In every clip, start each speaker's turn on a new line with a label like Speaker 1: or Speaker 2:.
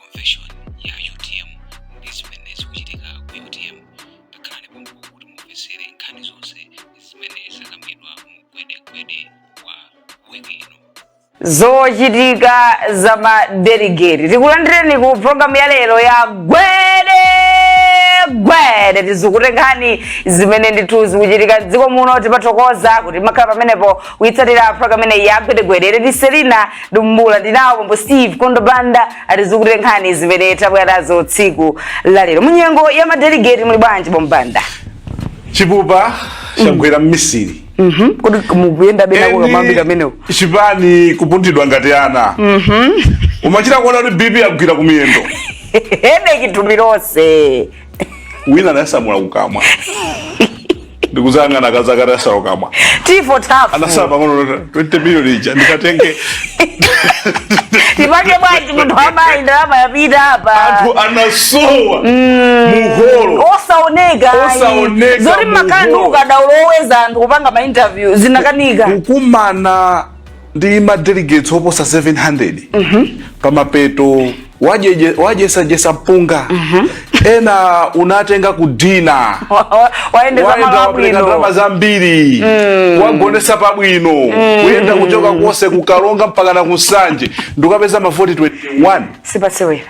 Speaker 1: convention ya utm ndi zimene zikuchitika ku utm takhalani pompo kuti mumvetsere nkhani zonse zimene zakambidwa mu gwedegwede wa week ino
Speaker 2: zochitika za madeligeti tikulandireni ku programu ya lero ya gwede gwede tizukute nkhani zimene ndithu zikuchitika mdziko muno timathokoza kuti makhala pamenepo kuitsatira program imeneyi ya gwedegwede ndi selina dumbula ndinawo pompo steve kondo banda atizukutire nkhani zimene tabwera nazo tsiku la lero munyengo ya madelegate muli bwanji bambo banda chipupa
Speaker 3: chagwera mmisiri
Speaker 2: kuti mukuyenda benako kamambi kamenewo
Speaker 3: chipani kupunthidwa ngati ana kumachita kuona kuti bp yagwira kumiyendo hedeki
Speaker 2: thupi lonse
Speaker 3: wina anasamula kukamwa ndikuzangana akazi akati asamula kukamwa tifo
Speaker 2: tafu anasala pang'ono 20
Speaker 3: million ija ndikatenge
Speaker 2: tipake bwanji munthu wamayi ndalama yapita apa anthu
Speaker 3: anasowa muholo
Speaker 2: osaoneka ayi. Osaoneka zoti mu makhala ndi hall. ukadaulo oweza anthu kupanga ma interview zinakanika kukumana
Speaker 3: ndi ma delegates oposa 700 pamapeto wajeje- wajesajesa mpunga ena munatenga kudina
Speaker 2: wayendeza waenda wapereka ndalama
Speaker 3: zambiri wagonesa pabwino kuyenda kuchoka konse kukaronga mpaka na kunsanje nkukapeza mavoti 21 sipatsewera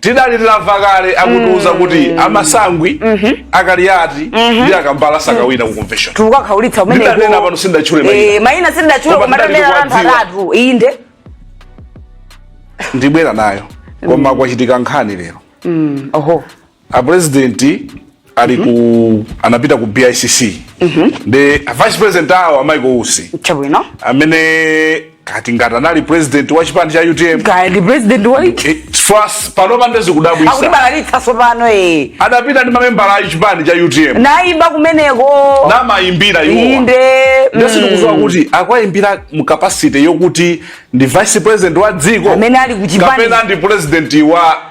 Speaker 2: tidali
Speaker 3: titamva kale akutiuza kuti amasangwi akaliyati ndi akambala sakawina ku convention tukakhaulitsa umene Ndidanena
Speaker 2: pano sindatchule maina.
Speaker 3: Eh, maina sindatchule
Speaker 2: Koma koma ndidali tamera anthu kuwadziwa. atatu
Speaker 3: inde ndibwera nayo koma kwachitika nkhani lero oho apurezidenti ali ku mhm. anapita ku BICC mhm. ndi vice president awo amaiko usi chabwino amene kaya ngati anali president wa chipani cha UTM kaya ndi president wa
Speaker 2: eh, first pano
Speaker 3: pa nde zikudabwitsa akubalalitsa sopano
Speaker 2: eh adapita
Speaker 3: ndi mamembala a chipani cha UTM naimba
Speaker 2: kumeneko na
Speaker 3: maimbira iwo inde nde
Speaker 2: mm. sindikudziwa
Speaker 3: kuti akuwaimbira mu capacity yokuti ndi vice president wa dziko amene ali ku chipani kapena
Speaker 2: ndi president
Speaker 3: wa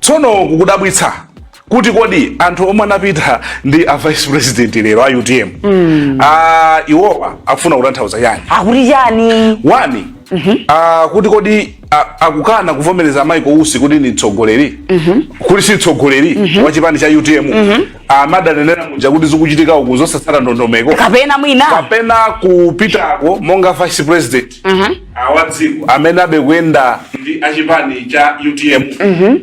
Speaker 3: Tsono kukudabwitsa kuti kodi anthu omwe anapita ndi a vice president lero a utm mm. a iwowa akufuna kutanthauza chani akuti chani
Speaker 2: wani mm
Speaker 3: -hmm. a, kuti kodi akukana kuvomereza Michael Usi kuti ni mtsogoleri mm -hmm. kuti si mtsogoleri mm -hmm. wa chipani cha UTM mm -hmm. amatanenera muja kuti zikuchitika uku zosatsata ndondomeko kapena kupitako monga vice president wa dziko amene abekuyenda ndi achipani cha utm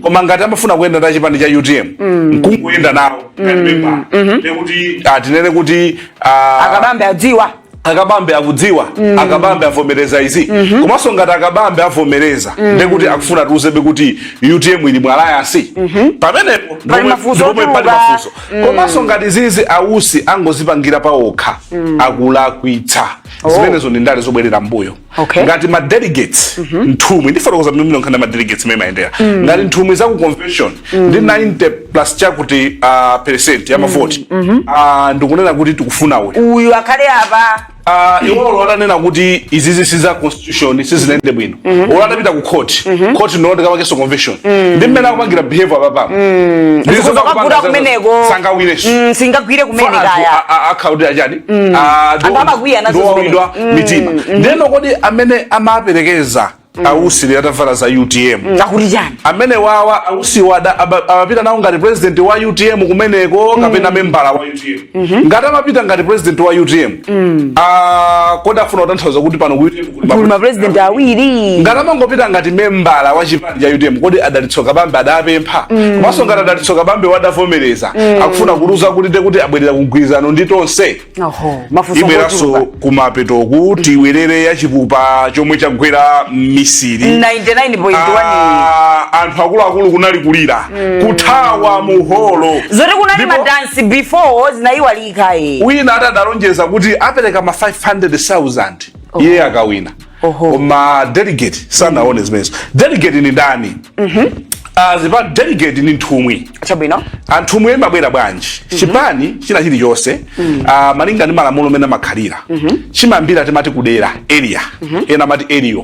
Speaker 3: koma ngati amafuna kuyenda ndi achipani cha utm nkungoyenda nawo ngati membala ndekuti atinene kuti ah, a Kabambe adziwa a Kabambe akudziwa a Kabambe avomereza izi komanso ngati a Kabambe avomereza ndekuti akufuna atiuzebe kuti utm ili mu alliance pamenepo Pali mafunso ndi
Speaker 2: pomwe pali otuluka. mafunso
Speaker 3: komanso ngati izizi a Usi angozipangira pawokha akulakwitsa Oh. zimenezo ndi ndale zobwerera mbuyo Okay. ngati ma delegates nthumwi ndifotokoza mmene nkhani ma delegates mmene imayendera ngati nthumwi za ku convention ndi 90 plus chakuti ah,
Speaker 2: percent ya
Speaker 3: mavoti
Speaker 2: ah,
Speaker 3: ndikunena kuti tikufuna uyu uyu akhale
Speaker 2: apa
Speaker 3: Ah, iwo atanena kuti izizi si za shoni sizinayende bwino mm-hmm. bola anapita ku court mm-hmm. court no ndika wakeso convention mm. ndi mmene akupangira behavior apapa mm.
Speaker 2: ndizo zakapura kumeneko sangawine mm,
Speaker 3: singagwire kumene
Speaker 2: kaya account ya chani
Speaker 3: mm. a do andaba
Speaker 2: kwiya nazo zimene do mm.
Speaker 3: mitima mm. ndeno kodi amene amaperekeza Mm. a Usi lero atavala za utm mm. akuti chani amene
Speaker 2: awawa
Speaker 3: a Usi wada amapita nawo ngati president wa utm kumeneko kapena mm. membala wa utm Mhm. ngati amapita ngati president wa utm mm. ah, kodi afuna kutanthauza kuti pano mapresident
Speaker 2: awiri ngati amangopita ngati
Speaker 3: membala wa chipani cha utm kodi a Dalitso Kabambe adapempha mm. komanso mm. ngati a Dalitso Kabambe adavomereza mm. akufuna kuuza kuti ndekuti abwerera kugwirizano ndi Tonse ibweranso kumapetoku tibwerere ya chipupa chomwe chagwera mmisiri 99.1 Ah,
Speaker 2: anthu akuluakulu
Speaker 3: kunali kulira kuthawa mu holo zoti kunali
Speaker 2: Ndipo- madansi before zinayiwalika e
Speaker 3: wina atadalonjeza kuti apereka ma 500000 iye akawina Koma ma delegate sanaone zimenezo delegate ni ndani Ah, zipa delegate ni nthumwi chabwino anthu
Speaker 2: omwe amabwera
Speaker 3: bwanji chipani china chilichonse ah, malinga ndi malamulo mmene amakhalira chimayambira timati kudera area ena amati area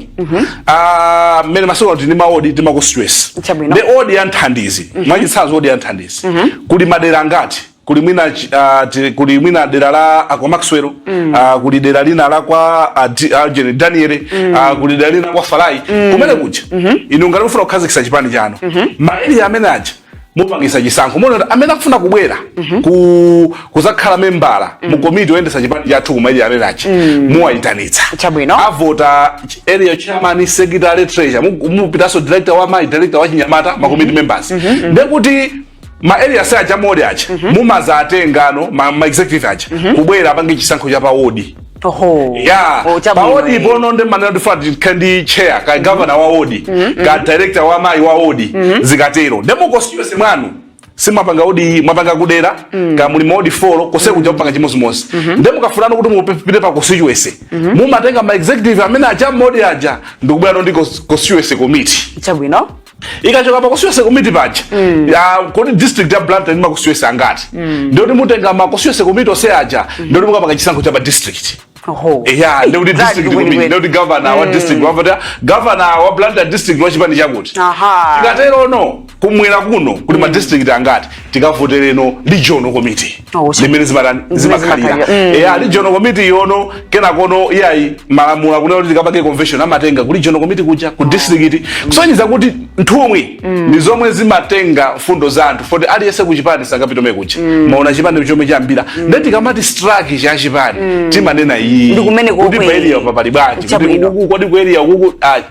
Speaker 3: Ah, mmene masiku ano tili ma ward timakustress Chabwino. ndi ward ya nthandizi mwachitsanzo ward ya nthandizi kuli madera angati kuli mwina uh, kuli mwina dera la kwa Maxwell mm. uh, kuli dera lina la kwa uh, Algeri Daniel mm. uh, kuli dera lina kwa Farai mm. kumene kuja mm -hmm. inu ngati mufuna kukhazikisa chipani chanu mm -hmm. ma area amene aja mupangisa chisankho muona amene akufuna kubwera mm -hmm. ku kuzakhala membala mm. mu komiti oyendesa chipani chathu ku ma area amene aja mm. muwayitanitsa chabwino avota area chairman secretary treasurer mupitanso director wa amayi director wa achinyamata mm -hmm. ma committee mm-hmm. members mm -hmm. ndekuti ma area aja mu wodi aja mm -hmm. mumadzatengano ma, ma executive aja mm -hmm. kubwera apange chisankho cha pawodi Oho. Yeah. Oh, pa wodi bono ndi manena timafuna chair ka mm -hmm. governor wa wodi mm -hmm. ka director wa amayi wa wodi mm -hmm. zikatero ndiye mu constituency mwanu simapanga wodi mapanga kudera mm. ka muli mawodi folo konse mm. kuja kupanga chimodzimodzi mm -hmm. ndiye mukafunano kuti mupite pa constituency mm -hmm. mumatenga ma executive amene aja mmawodi aja ndikubwera ndi constituency committee chabwino ikachoka pa constituency komiti paja mm. kodi district ya Blantyre ndi ma constituency angati mm. ndikuti mutenga ma constituency komiti onse aja mm. ndikuti mukapanga chisankho cha pa district ya ndikuti district komiti ndikuti governor wa mm. district wavota governor wa Blantyre district wa chipani chakuti tikaterono kumwera kuno kuli mm. madistrict angati tikavotereno regional committee Oh, so- ndi mmene zimatani Zimene zimakhalira zimakhalira. Mm. eya regional committee ijano kenakono iyayi malamulo akunena kuti tikapange convention amatenga ku regional committee kuja ku district kusonyeza kuti nthumwi ndi zomwe zimatenga mfundo za anthu poti aliyense kuchipani sangapiteko kuja maona chipani chomwe chayambira nde tikamati structure ya chipani timanena iyi Ndi kumene kuti komwe. paeliya pali bwanji kuti Chabwino. ukuku kodi kueliya ukuku ah,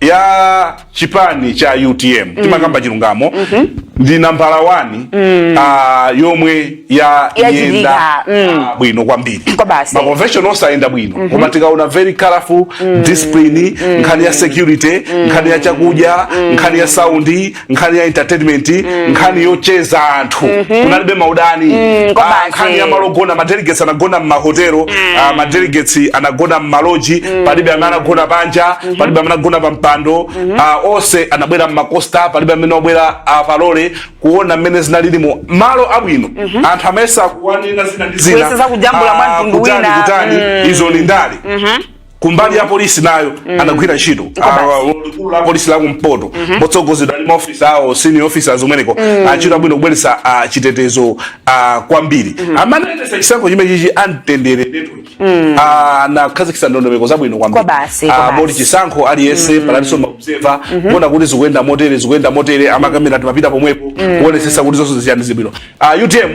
Speaker 3: ya chipani cha utm mm. timakamba chilungamo mm -hmm. ndi nambala wani mm. uh, yomwe yayenda mm. uh, bwino kwambiri ma convention onse ayenda bwino mm -hmm. koma tikaona very colorful mm. discipline mm. nkhani ya security mm. nkhani ya chakudya mm. nkhani ya saundi nkhani ya entertainment mm. nkhani yocheza anthu mm -hmm. kunalibe maudani mm, ah, nkhani ya malogona madelegates anagona mmahotelo mm. uh, ah, madelegates anagona mmaloji mm. palibe amene anagona panja mm -hmm. palibe amene anagona pampando mm -hmm. uh, ah, onse anabwera mmakosta palibe amene wabwera uh, pa lole kuona mmene zinalilimo mmalo abwino mm -hmm. anthu amayesa kunena zina ndi zina kujambula uh, mwamtundu
Speaker 2: wina kutani mm. izo ndi
Speaker 3: ndale mm -hmm. kumbali ya polisi nayo anagwira ntchito Awa, likulu la polisi la kumpoto motsogozedwa ndi maofisa awo senior officers umeneko achita bwino kubweretsa ah, chitetezo ah, kwambiri amene anayendetsa chisankho chimenechi a Mtendere network Ah, anakhazikitsa ndondomeko zabwino Kwa kwambiri basi, kwa Ah, basi. moti chisankho aliyense panalinso maobserva kuona kuti zikuyenda motere zikuyenda motere amakamera amapita pomwepo kuonetsetsa kuti zonse ziyende bwino Ah, utm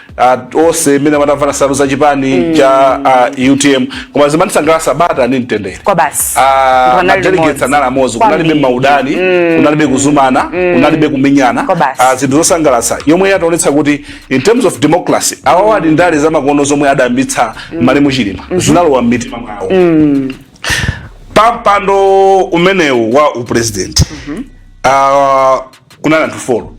Speaker 3: uh, onse mmene anatavala nsalu za chipani mm. cha uh, utm koma zimandisangalatsa bata ndi mtendere kwa
Speaker 2: basi uh, madelegates
Speaker 3: anali amodzi kunalibe maudani mm. kunalibe kuzuma mm. kunalibe kumenyana uh, zinthu zosangalatsa yomwe yatiwonetsa kuti in terms of democracy awawa mm. ndi ndale zamakono zomwe adayambitsa mm. malemu Chilima mm -hmm. zinalowa mmitima mwawo mm. pampando umenewu wa upresident mm -hmm. uh, kunali anthu folo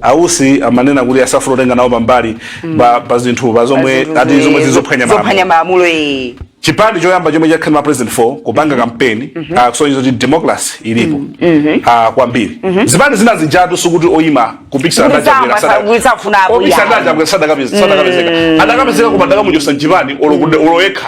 Speaker 3: ausi amanena kuti asafuna kutenga nawo mbali pa pa zinthu pa zomwe Pazinthu ati zomwe zi- zizophwanya zophwanya malamulo malamulo eh.
Speaker 2: chipani
Speaker 3: choyamba chomwe chakhala ma president 4 kupanga kampeni kusonyeza kuti democracy ilipo ah, kwambiri zipani zina zijatu sikuti oyima kupikisana Kuti sama- sa- kuti safunapo, yeah. kupikisana sadakapezeka adakapezeka koma adakamuchosa mchipani olo kude- olo yekha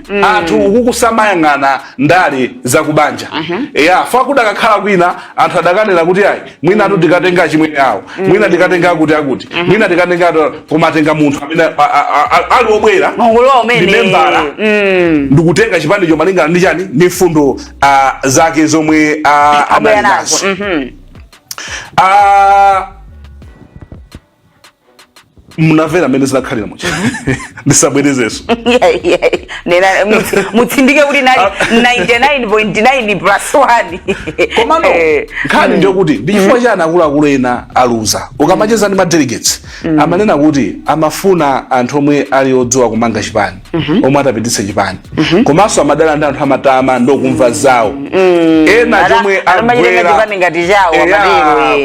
Speaker 3: mm. anthu ukuku samayang'ana ndale zakubanja uh mhm. -huh. ya fuko kudakakhala kwina anthu adakanena kuti ayi mwina atu tikatenga chimwene awo mm. mwina tikatenga akuti akuti mm -hmm. mwina tikatenga koma atenga munthu amene ali obwera ndi membala mm. ndikutenga chipanicho malingana ndi chani ndi mfundo uh, zake zomwe uh, anali nazo mm -hmm. uh, munamvera mmene zinakhalira mucha ndisabwerezenso Yeah, yeah. Nena, mutsi-
Speaker 2: mutsindike kuti nali 99.9 plus 1 komano
Speaker 3: Eh, nkhani ndiyo kuti ndi chifukwa chani akuluakulu ena aluza ukamacheza ndi madelegates amanena kuti amafuna anthu omwe ali odziwa kumanga chipani Mhm. omwe atapititse chipani mhm. komanso amadana ndi anthu amatama ndokumva zawo mm. ena chomwe agwera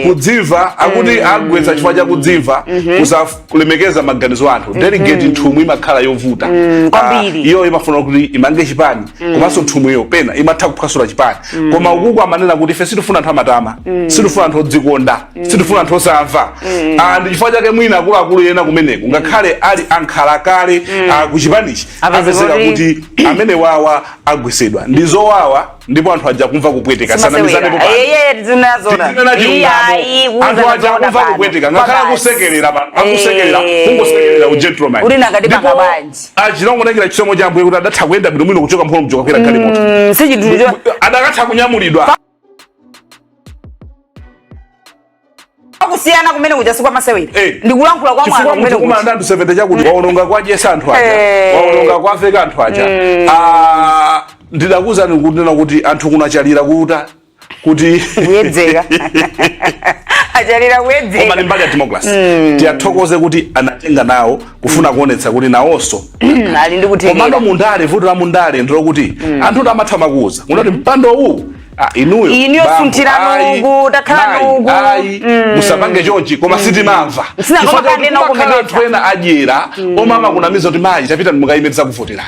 Speaker 3: kudzimva akuti mm. agwetsa chifukwa cha kudzimva mhm. kusalemekeza maganizo a anthu delegate nthumwi imakhala yovuta mm, ah, iyo imafuna kuti imange chipani komanso nthumwiyo pena imatha kuphwasula chipani koma ukuku amanena kuti ife sitifuna anthu amatama sitifuna anthu odzikonda sitifuna anthu osamva Ah, ndi chifukwa chake mwina akuluakulu ena kumeneko ngakhale ali ankhalakale ah, ku chipanichi Apeza apezeka kuti- kuti amenewawa agwesedwa ndi zowawa ndipo anthu aja akumva kupweteka tisanamizane popanda Yeye zinazona. Tinena chilungamo. Anthu aja akumva kupweteka ngakhale akusekerera pa- akusekerera kungosekerera ugentleman Uli nakati Ndipo pakabanji. achina Ngolongoliwa chisomo cha ambuye kuti adatha kuyenda bwino bwino kuchoka mphono mjoka kukwera galimoto Sichinthu cho adakatha kunyamulidwa
Speaker 2: kusiyana kumene kuja si kwa masewera Eh. ndikulankhula kwa mwana chifukwa kumene munthu kumanda kuja anthu 70 chakuti
Speaker 3: aononga kuwadyetsa anthu aja Eh. aononga kuwaveka anthu aja Ah, ndidakuuzani kunena kuti anthu kuno akadalira kutha kuti
Speaker 2: kuyedzeka akadalira kuyedzeka koma ndi mbali ya democracy
Speaker 3: tiwathokoze kuti anatenga nawo kufuna kuonetsa kuti nawonso ali ndi
Speaker 2: kuthekera komano mundale vuto
Speaker 3: la mundale ndilo kuti mm. anthu kuti amatha kumakuuza kuti mm. mpando uwu ah, inuyo iniyo bambo,
Speaker 2: sunthirani ayi, uku takhalani mayi, uku ayi, Mm.
Speaker 3: musapange chonchi koma sitimamva Sina koma Chifukwa kanena kuti kumakhala ukumvetsa. anthu ena adyera omwe amakunamiza kuti mayi tapitani mukayime tidzakuvoterani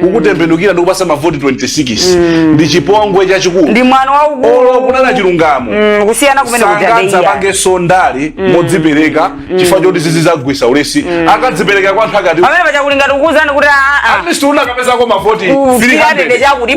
Speaker 3: kukutembenukira ndikupasa mavoti 26 mm. ndi chipongwe chachikulu ndi mwano waukulu olo
Speaker 2: kunena chilungamo
Speaker 3: mm, kusiyana kumene sangadzapangenso ndale mm. modzipereka mm. chifukwa choti zizidzawagwetsa ulesi mm. akadzipereka kwa anthu akati pamene pachakulingati
Speaker 2: kukuuzani kuti ah, ah. at least
Speaker 3: anakapezako mavoti 300
Speaker 2: chakuti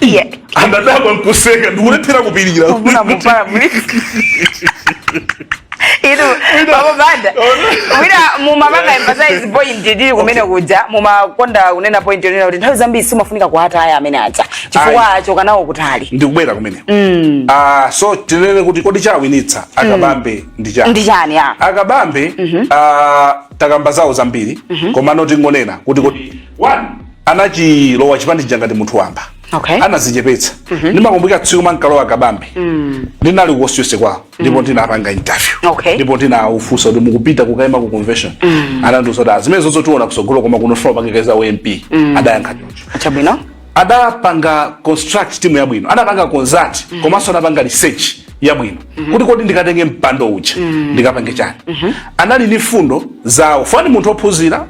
Speaker 3: iye anadaba nkuseka ndikulephera kupirira kuna point
Speaker 2: muli inu pa gome panda wina mumapanga emphasize point ndili kumene kuja mumakonda kunena point yonena kuti nthawi zambiri simafunika kuataya amene aja chifukwa Ayi. achoka nawo kutali ndikubwera kumene
Speaker 3: mm. uh, so tinene kuti kodi chawinitsa akabambe mm. ndi chani ndi chani ya akabambe mm -hmm. uh, takamba zawo zambiri mm -hmm. komano tingonena kuti kodi one anachilowa chipani chija ngati munthu wamba Okay. anazichepetsa ndimakumbukira tsiku ankalowa akabambe ndinali kukonstituency kwawo ndipo ndinapanga interview Okay. ndipo ndinawafunsa kuti mukupita kukaima ku convention anandiuza kuti zimene zonse tiona kusogolo koma kuno ndikufuna kupikisana za ump adayankha choncho
Speaker 2: Chabwino. adapanga
Speaker 3: construct timu yabwino anapanga consult komanso anapanga research yabwino kuti kodi ndikatenge mpando uja ndikapange chani anali ni fundo zawo fani munthu ophunzira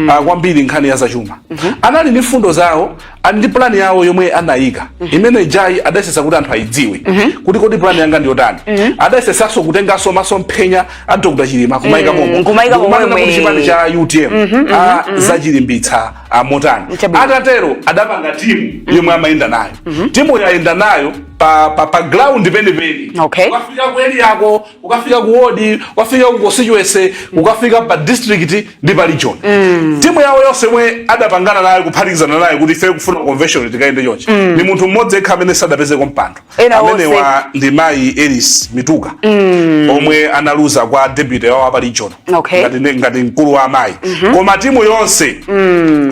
Speaker 3: ah, kwambiri nkhani ya zachuma anali ni fundo zawo ali ndi plani yawo yomwe anayika imene ijayo adayesesa kuti anthu ayidziwe kuti kodi plani yanga ndiyotani adayesesanso kutenganso masomphenya a dr chilima kumayika Mm, momwe kumayika Ndikumanena momwe. kuti chipani cha utm ah, adzachilimbitsa ah, motani Chabwino. atatero adapanga timu yomwe amayenda nayo timu yayenda nayo pa pa pa ground penipeni okay. ukafika ku area yako ukafika ku ward ukafika ku constituency mm. ukafika pa district ndi pa region mm. timu yawo yonse yomwe adapangana nayo kuphatikizana nayo kuti ife kufuna convention tikaende chonchi mm. ni munthu mmodzi yekha amene sadapezeko mpando amenewa ndi mai Elis Mituka mm. omwe analuza kwa deputy wa pa region okay. ngati, ndi- ngati mkulu wa amayi koma timu yonse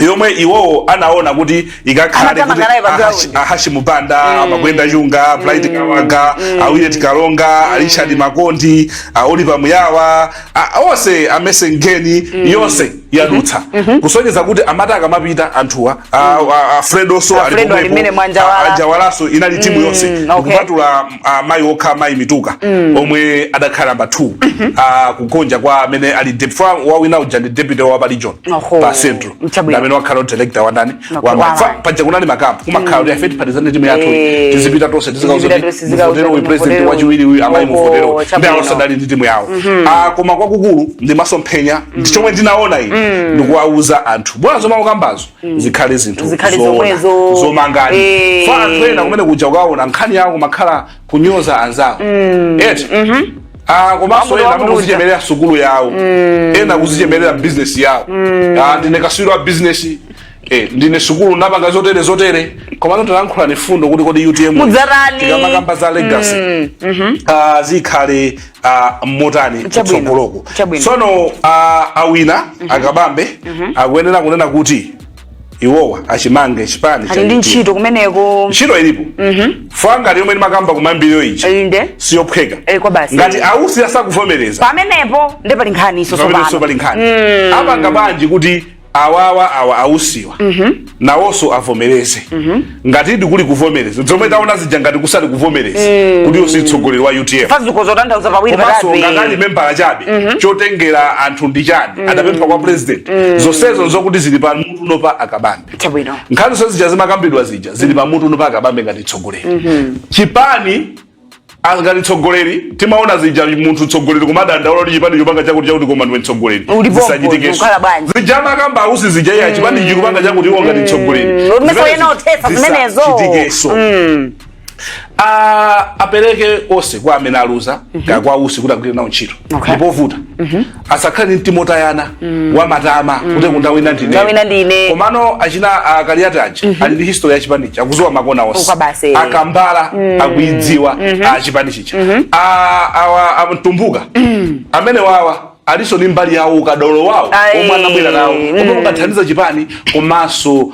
Speaker 3: yomwe iwowo anaona kuti ikakhale Anatama kuti nkhalaye pa Ahashi- ground. ahashi banda amakwenda chunga bright kawaga awillet kalonga arichard makondi aolipa muyawa a- onse amenewa ndi yonse yadutsa kusonyeza kuti amati akamapita anthuwa a- a- a fredoso Alfredo alipo mwa Njawala. anjawalaso inali timu yonse okay. kupatula amayi uh, okha amayi mituka mm. omwe adakhala namba 2 mm -hmm. uh, kugonja kwa amene ali deputy wawina uja ndi deputy wa pa region pa central amene wakhala director wa ndani wa amayi fa paja kunali makampu kumakhala kuti mm. ifeyo tipatizane timu yathu eh. tizipita tonse tizikawauza kuti muvotere uyu president wachiwiri uyu amayi muvotere ndi awoso adali ndi timu yawo mm-hmm. uh, koma kwakukulu ndi masomphenya ndi mm. chomwe ndinaona iyi mm. ndikuwauza anthu bwana zomwe akukambazo mm. zikhale zinthu zikhale zomwezo zomangani eh. fa anthu ena kumene kuja ukaona nkhani yawo imakhala kunyoza anzawo mm. eti mm -hmm. Ah, komanso ena kuzichemerera sukulu yawo mm. ena kuzichemerera bizinesi yawo mm. ah, ndine kaswiri wa bizinesi Eh, ndine sukulu napanga zotere zotere komano talankhulani fundo kuti kodi utm mudzatani tikamakamba za legacy mm. mm -hmm. ah, zikhale uh, motani Chabwino. kutsogoloko Chabwino. tsono uh, awinawa a Kabambe akuyenera kunena kuti iwowa achimange chipani chija ali ndi ntchito kumeneko
Speaker 2: ntchito
Speaker 3: ilipo chifukwa ngati yomwe ndimakamba kumayambiriro ija inde siyophweka Eh, kwa basi. ngati a Usi asakuvomereza pamenepo ndi pali
Speaker 2: nkhaninso pamenenso pali tsopano nkhani
Speaker 3: apanga bwanji kuti awawa awa a Usiwa nawonso avomereze ngati ndikuli kuvomereza zomwe taona zija ngati kusali kuvomereza kuti Usi mtsogoleri wa UTM chifukwa zikuzatanthauza pawiri
Speaker 2: komanso ngati ali patatu membala
Speaker 3: chabe chotengera anthu ndi chani adapempha kwa president zonsezo nzokuti zili pamutuno pa a Kabambe chabwino nkhani zonse zija zimakambidwa zija zili pamutuno pa a Kabambe ngati mtsogoleri chipani angati tsogoleri timaona zija munthu tsogoleri kumadandaula kuti chipani chikupanga chakuti chakuti koma ndiwe tsogoleri zisachitikenso zija amakamba a Usi zija iya mm. chipani chikupanga chakuti iwo ngati tsogoleri mm. zisachitikenso mm. apereke onse kwa amene aluza mm-hmm. ngakhale kwa Usi kuti agwire nawo ntchito ndipovuta mm-hmm. asakhale ndi mtima wotayana mm. wamatama mm. kuti kuti ndawina ndine wawina ndine komano achina a Kaliati aja mm -hmm. ali ndi history ya chipani chija akudziwa makona onse a Kambala mm. akuidziwa mm -hmm. a chipani chija mm -hmm. a, awa a Mtumbuka mm. amene awa alinso ni mbali yawo ukadolo wawo omwe anabwera nawo omwe mm. ungathandize chipani komanso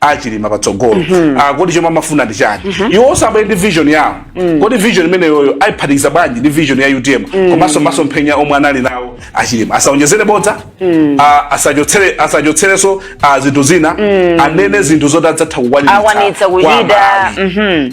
Speaker 3: a Chilima patsogolo mm -hmm. uh, kodi chomwe amafuna ndi chani mm -hmm. iwo onse abwere ndi vision yawo mm. kodi vision imeneyoyo ayiphatikiza bwanji ndi vision ya UTM mm. komanso masomphenya omwe anali nawo a Chilima asaonjezere bodza mm. uh, asachotsere asachotserenso uh, zinthu zina mm. anene zinthu zoti adzatha kukwanitsa kuchita
Speaker 2: mm -hmm.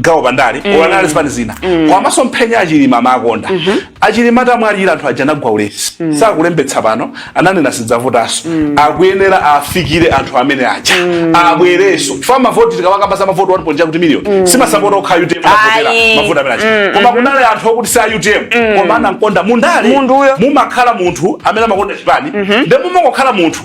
Speaker 3: gawo pandale mm. olo anali zipani zina mm. koma masomphenya a Chilima amakonda mm -hmm. a Chilima atamwalira anthu aja anagwa ulesi mm. sakulembetsa pano ananena sidzavotanso mm. akuyenera afikire anthu amene aja mm. abwerenso chifukwa mavoti tikawakamba za mavoti 1.2 kuti miliyoni mm. si masapota okha a UTM anavotera mavoti amene aja mm. mm-hmm. koma kunali anthu okuti si a UTM mm. koma anamkonda mundale mumakhala munthu amene amakonda chipani mm -hmm. nde mumakokhala munthu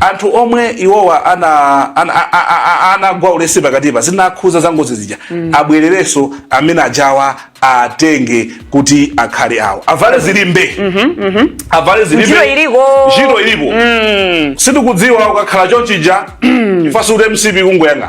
Speaker 3: anthu omwe iwowa anagwa ulesi pakatipa zokhudza za ngozi zija mm. abwererenso amene ajawa atenge kuti akhale awo avale zilimbe mm -hmm, mm -hmm. avale zilimbe ntchito ilipo mm. sindikudziwa ukakhala chonchija mm. ife funso kuti MCP ikungoyang'ana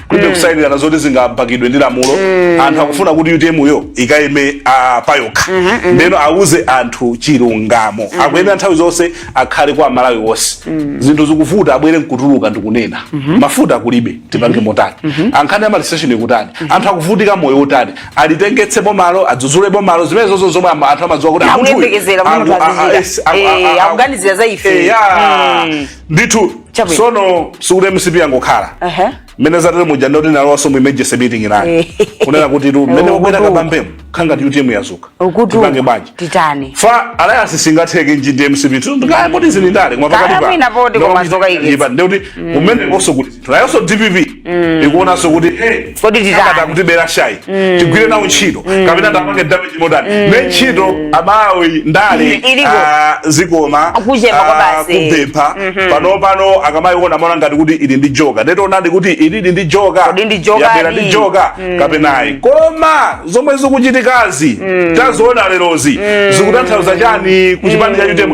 Speaker 3: kulibe mm. kusayinirana zoti zingapangidwe ndi lamulo mm. anthu akufuna kuti UTM yo ikayime uh, payokha mm -hmm. ndeno auze anthu chilungamo mm -hmm. akuyenera nthawi zonse akhale kwa aMalawi onse mm -hmm. zinthu zikuvuta abwere nkutuluka ndikunena mm -hmm. mafuta kulibe tipange mhm. motani mm -hmm. a nkhani ya ma filling station kutani mm -hmm. anthu akuvutika moyo utani alitengese bomalo adzuzule bomalo zimenezozo zomwe anthu amadziwa kuti akuganizira
Speaker 2: za ife mm.
Speaker 3: ndithu Chabwino. sono sikuti mcp yangokhala Ehe. mmene zatele muja ndekuti yalowanso mu emergency meeting inayo Eh. kunena kuti tu mmene Eh, wabwera ukutu. Kabambemo zikukhala ngati utm yadzuka Ukutu. tipange bwanji Titani. chifukwa alliance singatheke ndi mcp tu ndikaya poti ndi ndale koma Kaya mwina poti koma zokaikitsa. ndikuti umene koso kuti nayonso dpp ikuonanso kuti hey, Kodi titani?
Speaker 2: akada kutibera
Speaker 3: shayi tigwire nawo ntchito kapena tapange damage modani ne ntchito amati ndale Mm, iliko. ah, zikoma Kuchepa kwa ah, basi. kupempha pano pano akamayiona maona ngati kuti ili ndi joker nde tionadi kuti ilidi ndi joker Kodi ndi joker yabera ndi? ndi joker kapena ayi koma zomwe zikuchitikazi taziona lerozi zikutanthauza chani ku chipani cha utm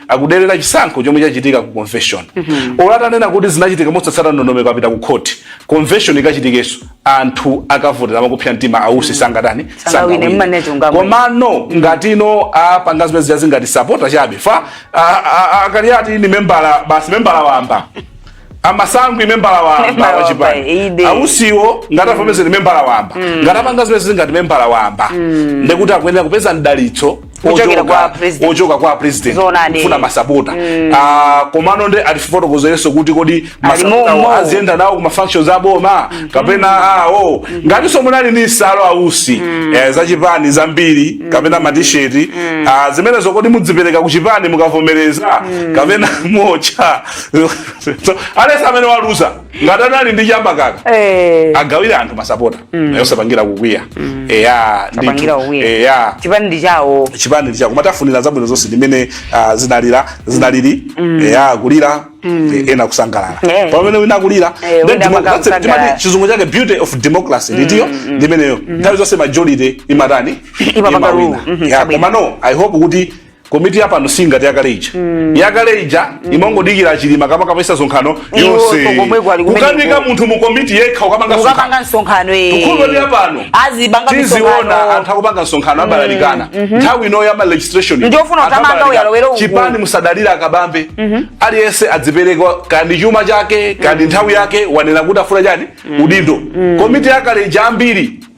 Speaker 3: akuderera chisankho chomwe chachitika ku convention mm -hmm. olo atanena kuti zinachitika mosatsata ndondomeko apita ku court convention ikachitikenso anthu akavotera a Kupsa mtima a Usi mm -hmm. sangatani sangawine komano ngati iwo apanga zimene zija zili ngati sapota chabe chifukwa akuti ati ni membala basi membala wamba samasankhidwa membala wamba Membala wa chipani wamba, ide. a Usiwo ngati avomereza ndi membala wamba ngati apanga zimene zili ngati membala wamba ndekuti akuyenera kupeza mdalitso Kuchokera ochokera kwa president. ochoka kwa president Zoonadi. kufuna masapota Ah, komano nde atifotokozerenso kuti kodi masapota Alimomo. awo aziyenda nawo ku mafunctions aboma kapena awo ngatinso munali ndi nsalu a Usi eh, za chipani zambiri kapena matisheti zimenezo kodi mudzipereka ku chipani mukavomereza kapena mocha so at least amene waluza ngati anali ndi chamba akaka eh. agawire anthu masapota mm. yosapangira kukwiya mm. eya eya
Speaker 2: chipani ndi chawo chipani ndi chawo koma tafunira
Speaker 3: zabwino zonse ndimene uh, ah, zinalili zinalili mm. eya kulira Mm. Eh, ena kusangalala yeah. pamene wina akulira eh, yeah, chizungu chake beauty of democracy mm, ndiyo mm, ndimeneyo mm. nthawi zonse majority imatani imawina mm-hmm. komano i hope kuti komiti ya pano si ngati yakale ija mm. yakale ija mm. imangodikira achilima kuti akapangitse msonkhano wonse kukanika munthu mu komiti yekha kukapanga kukapanga msonkhano eh
Speaker 2: tikukhulupirira ya pano
Speaker 3: azipanga tiziona anthu akupanga msonkhano mm. abalalikana mm -hmm. nthawi ino ya ma registration ndiyofuna kuthamanga
Speaker 2: wa wa walowera uku chipani
Speaker 3: osadalira a Kabambe mm -hmm. aliyense adzipereka kaya ndi chuma chake kaya ndi mm -hmm. nthawi yake wanena kuti afuna chani mm -hmm. udindo mm -hmm. komiti yakale ija ambiri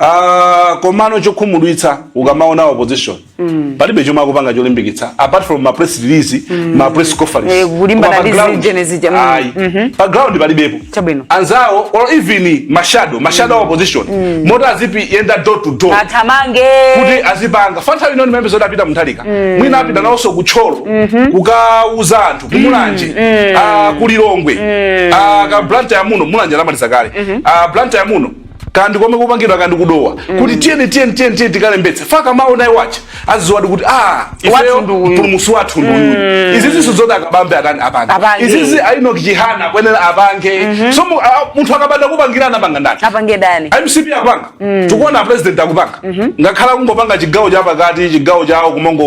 Speaker 3: Uh, komano chokhumudwitsa ukamaona opposition mm. palibe chomwe akupanga cholimbikitsa apart from ma press release mm. ma press conference eh, kulimbana dizi
Speaker 2: genesis jam mm -hmm. pa
Speaker 3: ground palibepo chabwino anzao or even mashado mashado mm. opposition mm. moti aziyenda door to door athamange
Speaker 2: kuti
Speaker 3: azipanga chifukwa nthawi ino ndiye bwenzi atapita a Mutharika mm. mwina apita nawonso ku Thyolo mm -hmm. kukauza anthu kumulanje mm. mm. uh, kulilongwe mm. uh, kaya Blantyre muno mulanje amaliza kale mm -hmm. uh, Blantyre muno kaya ndi komwe kupangidwa kaya ndi ku dowa kuti tiyeni tiyeni tiyeni tiyeni tikalembetse faka mawu naye wacha aziziwadi kuti ah ifeyo Wathu ndi uyu. mpulumusi wathu ndi uyu izizi sizoti a kabambe atani apange Apange. izizi a enock chihana kuyenera apange so mu- a- munthu akabanda kupangira anapanga ndani apange ndani
Speaker 2: mcp
Speaker 3: akupanga tikuona president akupanga ngakhale akungopanga chigawo cha pakati chigawo chawo kumango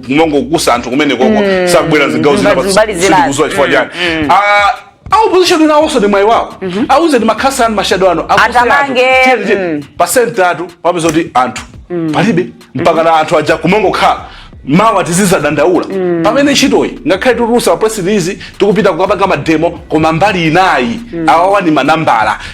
Speaker 3: kumangokusa anthu kumenekoko sakubwera zigawo zina Mbali- mbali zinazo. sitikuziwa chifukwa chani Ah, a opposition ena onse ndi mwayi wawo awuze ndi makhansala anu mashado anu akuse anthu. Athamange, Tiye, tiye.
Speaker 2: mm. pa
Speaker 3: center tu wapeza kuti anthu palibe mpaka na anthu aja kumangokhala mawa tizizadandaula pamene ntchitoyi ngakhale titulusa ma press release tikupita kukapanga mademo koma mbali inayi awawa ni manambala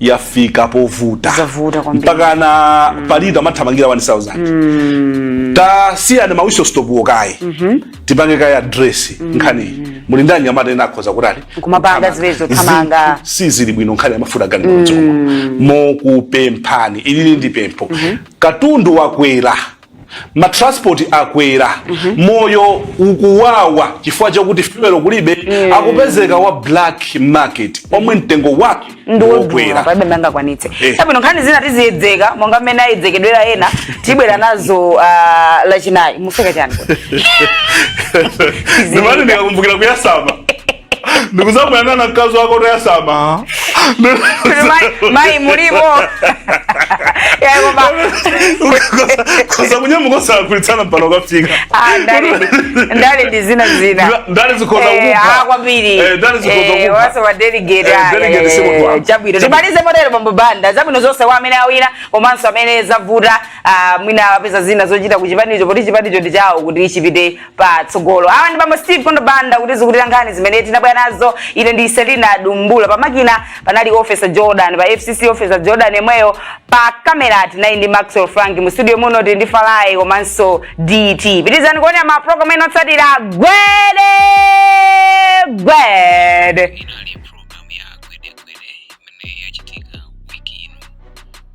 Speaker 3: yafika povuta Zavuta kwambiri. mpaka na mm. pa lita amathamangira 1000 mm. tasiyani ma whistle stop wo kaye mm-hmm. tipange kaye address mm. nkhaniyi muli ndi anyamata ena akhoza kutali Kumapanga
Speaker 2: zilezo, thamanga. Zi- sizili bwino
Speaker 3: nkhani yamafuta gani mm. mokupemphani ilili ndi pempho katundu wakwera ma transport akwera mm -hmm. moyo ukuwawa chifukwa chakuti fuel kulibe mm. akupezeka wa black market omwe mtengo wake ndiwokwera palibe amene angakwanitse
Speaker 2: eh. chabwino nkhani zina tiziyedzeka monga mmene ayedzekedwera ena tibwera nazo uh, lachinayi museka chani
Speaker 3: ndimati ndikakumbukira kuyasama ndikuuza bwana na mkazi wako woyasama
Speaker 2: Mai- mai mulimo
Speaker 3: kunyamuka kulitana pano kafika ah, ndale
Speaker 2: ndi- ndale ndi zina zina Ndale- ndale
Speaker 3: zikhoza Eh, kukupha. ah, kwambiri Eh, ndale zikhoza Eh, kukupha. wase wa delegate, Eh, ah,
Speaker 2: delegate eh, si munthu wako. chabwino Chabwino. timalize motero bambo banda zabwino zonse kwa amene awina komanso amene zavuta ah, mwina apeza zina zochita ku chipanicho poti chipanicho ndi chawo kuti chipite patsogolo awa ndi bambo steve kondo banda kutizukutira nkhani zimene tinabwera nazo ine ndi selina dumbula pamakina panali officer jordan pa fcc officer jordan yemweyo pa kamera tinali ndi maxwell frank mu studio muno tili ndi falai komanso dt pitizani kuonera ma program ena otsatira gwedegwede
Speaker 1: inali programu ya gwedegwede imene yachitika wiki ino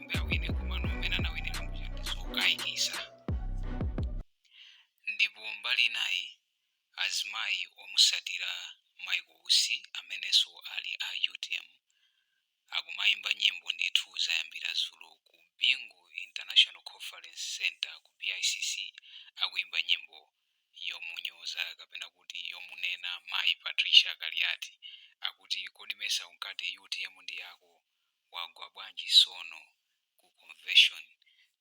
Speaker 1: kuti awine komano amene anawinira muja ndi zokayikisa ndipo mbali inayi azimayi omusatira michael usi amenenso ali a utm akumayimba nyimbo ndithu zayambira zulo ku bingu international conference center ku bicc akuyimba nyimbo yomunyoza kapena kuti yomunena mayi patricia kaliati akuti kodi mesa unkati utm ndi yako wagwa bwanji sono ku convention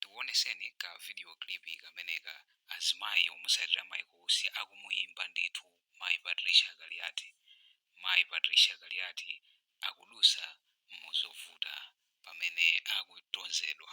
Speaker 1: tikuoneseni ka video clip kameneka azimayi omusatira mayi kuusi akumuyimba ndithu mayi Patricia kaliati mayi Patricia kaliati akudutsa muzovuta pamene akutonzedwa.